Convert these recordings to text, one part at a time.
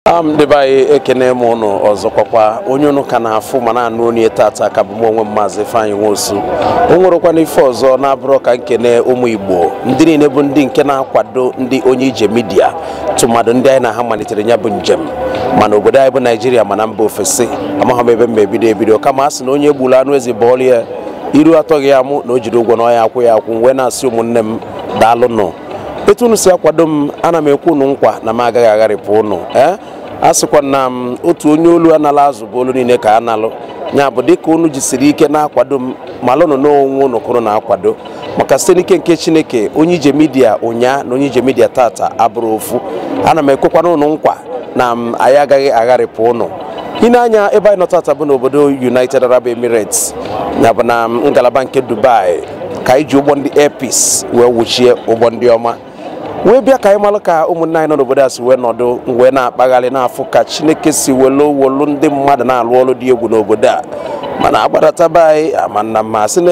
am ndị be anyị ekene m ụnụ ọzọkwakwa onye ụnụ ka na-afụ ma na-anụ onu ya tata ka bụ m onwe m maazị Ifeanyi Nwosu o nwerọkwanụ ife ọzọ na-abụrọ ka m kene ụmụ Igbo ndị niile bụ ndị nke na-akwado ndị onye ije midia tụmadụ ndị anyị na ha malitere ya bụ njem ma n'obodo anyị bụ Naijiria ma na mba ofesi amaghị m ebe m ebido ebido kama a sị na onye gburu anụ ezi bọọlụ ya iru atọghị ya amụ na o jiri ụgwọ na ọ ya akwụ ya akwụ wee na-asị ụmụnne m daalụnụ etu unu si akwado m ana m ekwe unu nkwa na m agaghị agharịpụ unu ee a sịkwa na m otu onye olu a nalụ azụ bụ olu niile ka a nalụ ya bụ dịka unu jisiri ike na-akwado m malụnụ na onwe unu ka unu na-akwado maka site n'ike nke chineke onye ije midia ụnyaa na onye ije midia tata abụrọ ofu ana m ekwekwana unu nkwa na m anyị agaghị agharịpụ unu i nee anya ebe anyị nọ tata bụ n'obodo united arab emirates ya bụ na ngalaba nke dubai ka anyị ji ụgbọ ndị Air Peace wee wuchie ụgbọ ndị ọma wee bịa ka anyị malụ ka ụmụnne anyị nọ n'obodo a si wee nọdụ wee na-akpagharị na-afụ ka Chineke si welu welu ndị mmadụ na-alụ ọrụ dị egwu n'obodo a mana a gbadata be anyị amana ma sị na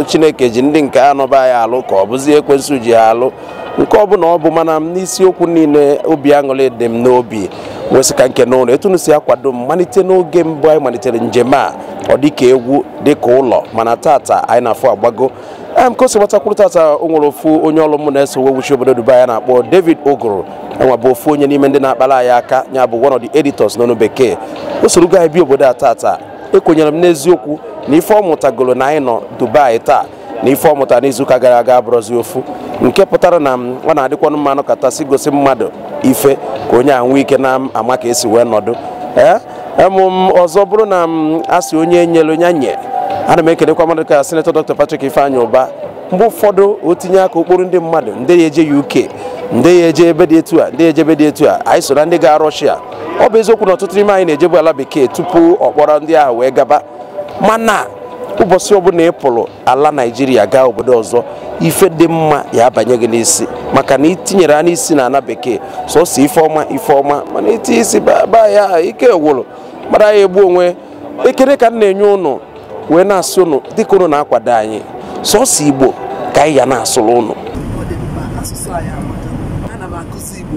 Chineke ji ndị nke nọ be anyị alụ ka ọ bụzi ekwensu ji ya alụ nke ọ bụla ọ bụ mana m n'isiokwu niile obi aṅụrị dị m n'obi wee sị ka m kene unu etu unu si akwado m malite n'oge mbụ anyị malitere njem a ọ dịka egwu dịka ụlọ mana tata anyị na-afụ agbago em ka o si gbata kwụrụ tata o nwere ofu onye ọrụ mụ na ya so wee wuchie obodo Dubai a na-akpọ David Oguru ya nwa bụ ofu onye n'ime ndị na-akpara anyị aka ya bụ one of the editors n'onu bekee o sorogo anyị bịa obodo a tata ekwenyere m n'eziokwu na ife ọ mụtagoro na anyị nọ Dubai taa na ife ọ mụtara n'izuụka gara aga abụrọzi ofu nke pụtara na ọ na-adịkwanụ mma a nọkata sị gosi mmadụ ife ka onye ahụ nwee ike na-ama ka e si wee nọdụ ee emm ọzọ bụrụ na m asị onye nyere onye nye ana m ekelekwa mmadụ ka sinetọ dr patrick ifeanyị ụba mgbe ụfọdụ o tinye aka ọ kpọrọ ndị mmadụ ndị ya eje uk ndị ya eje ebe dị etu a ndị ya eje ebe dị etu a anyị so na ndị ga rọshia ọ bụ eziokwu na ọtụtụ n'ime anyị na-ejebu ala bekee tupu ọ kpọrọ ndị ahụ wee gaba mana ụbọchị ọbụla ị pụrụ ala naijiria gaa obodo ọzọ ife dị mma ya abanye gị n'isi maka na e tinyere anyị n'isi na ana bekee sọsọ ife ọma ife ọma mana i tie isi baba ya ike gwụrụ mmadụ ya egbu onwe ekele ka m na-enye ụnụ wee na-asị ụnụ dịka ụnụ na-akwado anyị sọsọ igbo ka anyị ya na-asụrụ ụnụ ọ dị mkpa asụsụ anyị amaka ana m akụzi igbo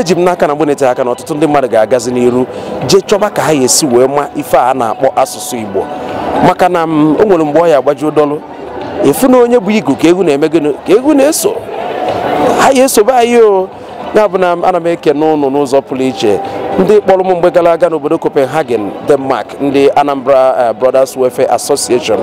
eji m n'aka na mgbe na-eteghị aka na ọtụtụ ndị mmadụ ga-agazi n'iru jee chọba ka ha ya esi wee ma ife a na-akpọ asụsụ Igbo maka na m o nwere mgbe ọ ya agbajuo dọlụ a fụ na onye bu igu ka ewu na-eme gịnị ka ewu na-eso ha ya esobe anyị o ya bụ na ana m ekene ụnụ n'ụzọ pụrụ iche ndị kpọrọ m mgbe gara aga n'obodo Copenhagen Denmark ndị Anambra eh, Brothers Welfare Association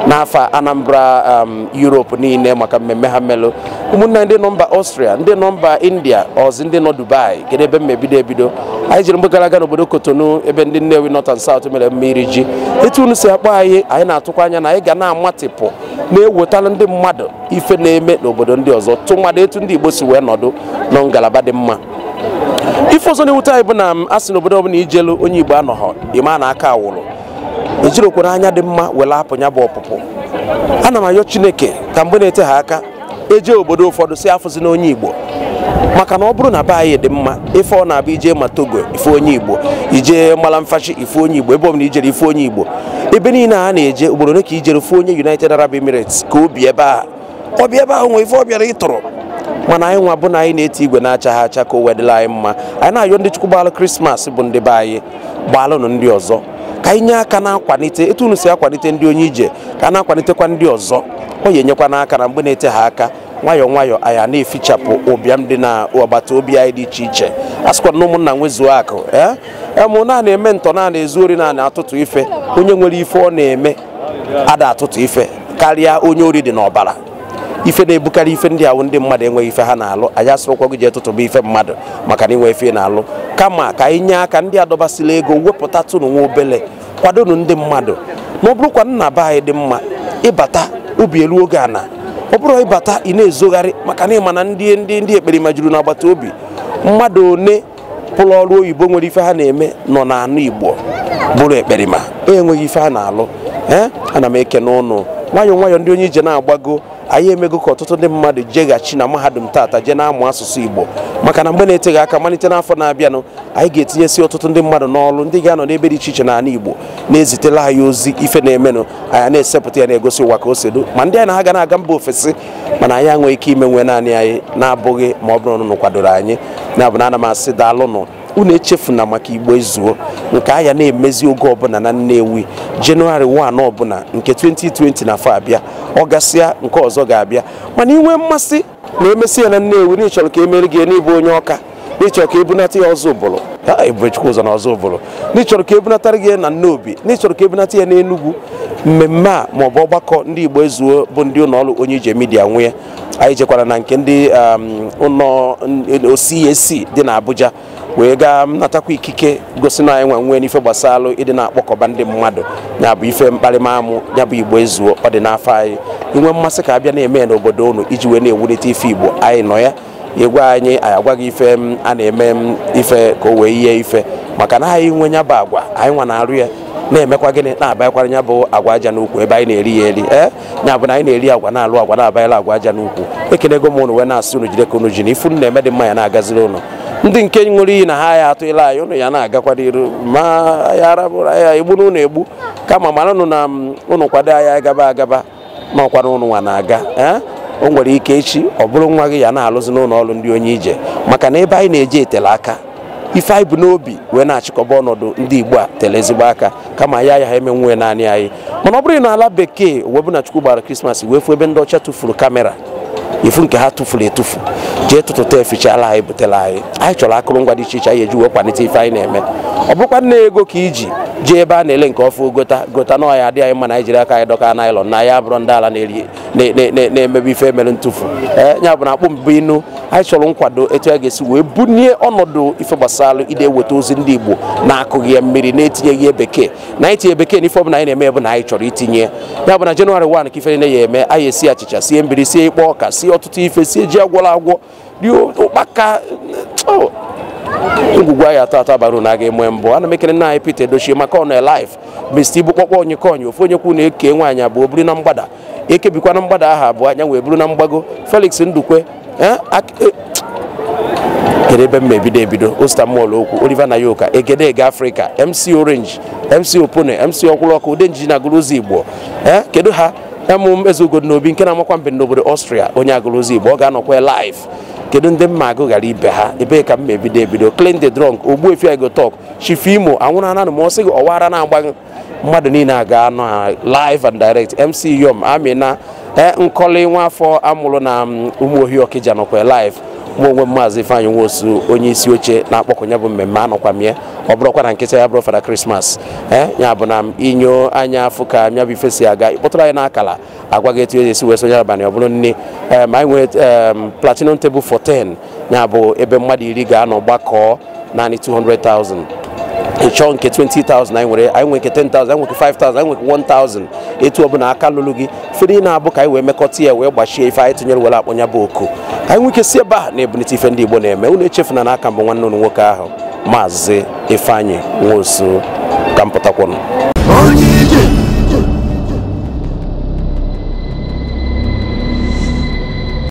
n'afa Anambra um, Europe niile maka mmemme ha melụ ụmụnna ndị nọ mba austria ndị nọ mba india ọzi ndị nọ dubai kedu ebe m ma ebido ebido anyị jere mgbe gara aga n'obodo cotonou ebe ndị nnewi north and south mere mme iri ji etu unu si akpọ anyị anyị na-atụkwa anya na anyị ga na-amatịpụ na-ewetara ndị mmadụ ife na-eme n'obodo ndị ọzọ tụmadụ etu ndị igbo si wee nọdụ na ngalaba dị mma ife ọzọ na-ewute anyị bụ na a sị n'obodo ọbụla i jelu onye igbo anọghọ ị ma na aka awụrụ ejirokwara anya dị mma were apụ ya bụ ọpụpụ ana m ayọ chineke ka mgbe na-eteha aka e je obodo ụfọdụ sị afụzina onye igbo maka na ọ bụrụ na be anyị dị mma ife ọ na-abụ i je ma togo ị fụ onye igbo i je malumfashi ị fụ onye igbo ebe ọ bụla i jere ị fụ onye igbo ebe niile a na-eje ugboro ole ka i jere ị fụ onye united arab emirates ka o bi ebe a ọ bịa ebe ahụ nwee ife ọ bịara ịtụrụ mana anyị nwa bụ na anyị na-eti igwe na-acha ha acha ka o wee dịla anyị mma anyị na-ayọ ndị chukwu gbalụ krismas bụ ndị be anyị gbalụnụ ndị ọzọ ka anyị nye aka na-akwalite etu unu si akwalite ndị onye ije ka a na-akwalitekwa ndị ọzọ ọ ya-enyekwanụ aka na mgbe na-eteha aka nwayọọ nwayọọ anyị a na-efichapụ ụbịam dị na agbata obi anyị dị iche iche a sịkwa na ụmụnna nwezuo akụ ee emụ na-eme ntọ na-ezu ori na-atụtụ ife onye nwere ife ọ na-eme ada atụtụ ife karịa onye ori dị n'ọbara ife na-ebukarị ife ndị ahụ ndị mmadụ enweghị ife ha na-alụ anyị asịrọkwa gị jee tụtụba ife mmadụ maka na i nwe ife na-alụ kama ka anyị nye aka ndị adọbasịla ego wepụtatụnụ nwa obele kwadonu ndị mmadụ na ọ bụrụkwa na be anyị dị mma ị bata obi eluo gị ana ọ bụrọ ị bata ị na-ezogharị maka na ị ma na ndị ndị ndị ekperima juru n'agbata obi mmadụ one pụrụ ọrụ oyibo nwere ife ha na-eme nọ n'ana Igbo bụrụ ekperima enweghị ife ha na-alụ ee ana m ekene ụnụ nwayọọ nwayọọ ndị onye ije na-agbago anyị emego ka ọtụtụ ndị mmadụ jeghachi na mahadum tata jee na-amụ asụsụ Igbo maka na mgbe na-eteghị aka malite n'afọ na-abịanụ anyị ga-etinyesi ọtụtụ ndị mmadụ n'ọrụ ndị ga-anọ n'ebe dị iche iche n'ala Igbo na-ezitela anyị ozi ife na-emenụ anyị na-esepụta ya na-egosi ụwa ka o si dị ma ndị anyị na ha ga na-aga mba ofesi mana anyị enweghị ike imenwu naanị anyị na-abụghị ma ọ bụrụ na unu kwadoro anyị ya bụ na ana m asị daalụnụ unu echefuna maka igbo ezuo nke a ya na-emezi oge ọbụla na nnewi january 1 ọbụla nke 2020 na afọ abịa ọ gasịa nke ọzọ ga-abịa mana i nwee mmasị na e mesịa ya na nnewi na ị chọrọ ka e meere gị na ị bụ onye ọka n'ịchọrọ ka ebunata ya ozubulu ha ebubechukwu ụzọ na ozubulu n'ịchọrọ ka ebunatara gị ya na nnobi n'ịchọrọ ka ebunata ya n'enugwu mmemme a ma ọ bụ ọgbakọ ndị igbo ezuo bụ ndị ụlọ ọrụ onye ije media nwe anyị jekwara na nke ndị um, ụlọ ọrụ cac dị na abuja wee gaa natakwa ikike gosi na anyị nwe nwee n'ife gbasara ịdị na-akpọkọba ndị mmadụ ya bụ ife mkparịmamụ ya bụ igbo ezuo ọ dị n'afa anyị i nwee mmasị ka a bịa na-eme ya n'obodo unu iji wee na-ewulite ife igbo anyị nọ ya ị gwa anyị anyị agwa gị ife a na-eme ife ka o wee yie ife maka na anyị nwe nya bụ agwa anyị nwa na-arụ ya na-emekwa gịnị na-abanyekwara nya bụ agwa aja n'ukwu ebe anyị na-eri ya eri ee nya bụ na anyị na-eri agwa na-alụ agwa na-abanyela agwa aja n'ukwu ekenego m ụnụ wee na-asị unu jide ka unu ji na ife unu na-eme dị mma ya na-agaziri unu ndị nke ṅụrụ iyi na ha ya atụla anyị unu ya na-agakwa n'iru ma ya arabụrụ ya egbuna unu egbu kama mara unu na unu kwado anyị agaba agaba ma ọkwa na unu nwa na-aga ee o nwere ike echi ọ bụrụ nwa gị ya na-alụzi n'ụlọ ọrụ ndị onye ije maka na ebe anyị na-eje etele aka ife anyị bu n'obi wee na-achịkọba ọnọdụ ndị igbo a tele ezigbo aka kama anyị ayaha emenwu ya naanị anyị mana ọ bụrụ n'ala bekee o wee bụ na chukwu gbara krismas wee fụ ebe ndị ọcha tụfuru kamera ị fụ nke ha tufuru etufu jee tụtụta efichara anyị butere anyị anyị chọrọ akụrụngwa dị iche iche anyị eji wee kwalite ife anyị na-eme ọ bụkwa na i nwe ego ka i ji jee ebe a na-ele nke ọfụ gota gota na ọ ya-adị anyị mma na anyị jiri aka anyị dọka naịlọn na ya bụrụ ndị ala na-eri na-emebi ife mere ntụfu ee ya bụ na akpụ mbụ inu anyị chọrọ nkwado etu a ga-esi wee bunie ọnọdụ ife gbasara ịdị eweta ozi ndị Igbo na-akụghị ya mmiri na-etinyeghị ya bekee na anyị tinye bekee n'ife ọbụla anyị na-eme bụ na anyị chọrọ itinye ya bụ na jenụwarị 1 ka ife niile ya-eme anyị esie achịcha sie mbiri sie ịkpọ ọka sie ọtụtụ ife sie ji a gwọrọ agwọ rie ụkpaka oh, ngwugwu a ya-atọ atọ aba uru na a ga-enwe mbọ ana m ekele nna anyị Peter Edochie maka ọ nọ live Mr. Ibu kpọkpọ onye konye ofu onye kwu na-eke nwaanyị abụọ buru na mgbada ekebikwa na mgbada aha abụọ anya wee bụrụ na mgbago Felix Ndukwe eh, eh, kedu ebe m ebido ebido Osita Molokwu Oliver Nayoka Egedege Africa MC Orange MC Opone MC Ọkwụlọkụ Udenji na Aguluzigbo eh, kedu ha emụm eze ugodo n'obi nke na-amakwa mbem n'obodo Austria onye Aguluzigbo ọ ga-anọkwa live kedu ndị m ma agụ ghara ibe ha ebee ka m ebido ebido Klint da Drunk ogbuefi I go talk Chief Imo anwụrụ ananụ ma ọ sị gị ọwara na-agbaghị mmadụ niile a ga-anọ live and direct MC Yom Amina e nkọli nwa afọ a mụrụ na mm, Umuohi Okija nọkwa live mụ onwe m maazị Ifeanyị Nwosu onye isi oche na-akpọkọ nya bụ mmemme anọkwa m ya ọ bụrụkwa na nkịta ya bụrụ fada krismas ee ya bụ na m inyo anya afụ ka nya bụ ife si aga ị kpọtụrụ anyị n'akala agwa gị etu e si wee sonye abalị ọ bụrụ nne ma anyị nwee platinum table for 10 ya bụ ebe mmadụ iri ga-anọ gbakọọ naanị 200,000 ị chọọ nke 20,000 anyị nwere anyị nwere nke 10,000 anyị nwere 5,000 anyị nwere 1,000 etu ọbụla aka luru gị fere ị na-abụ ka anyị wee mekọta ya wee gbachie ife anyị tụnyere were akpọ nya bụ oku anyị nwee ike si ebe a na-ebunite ife ndị Igbo na-eme unu echefuna na aka m bụ nwanne unu nwoke ahụ maazị Ifeanyi Nwosu ka m pụtakwụnụ onye ije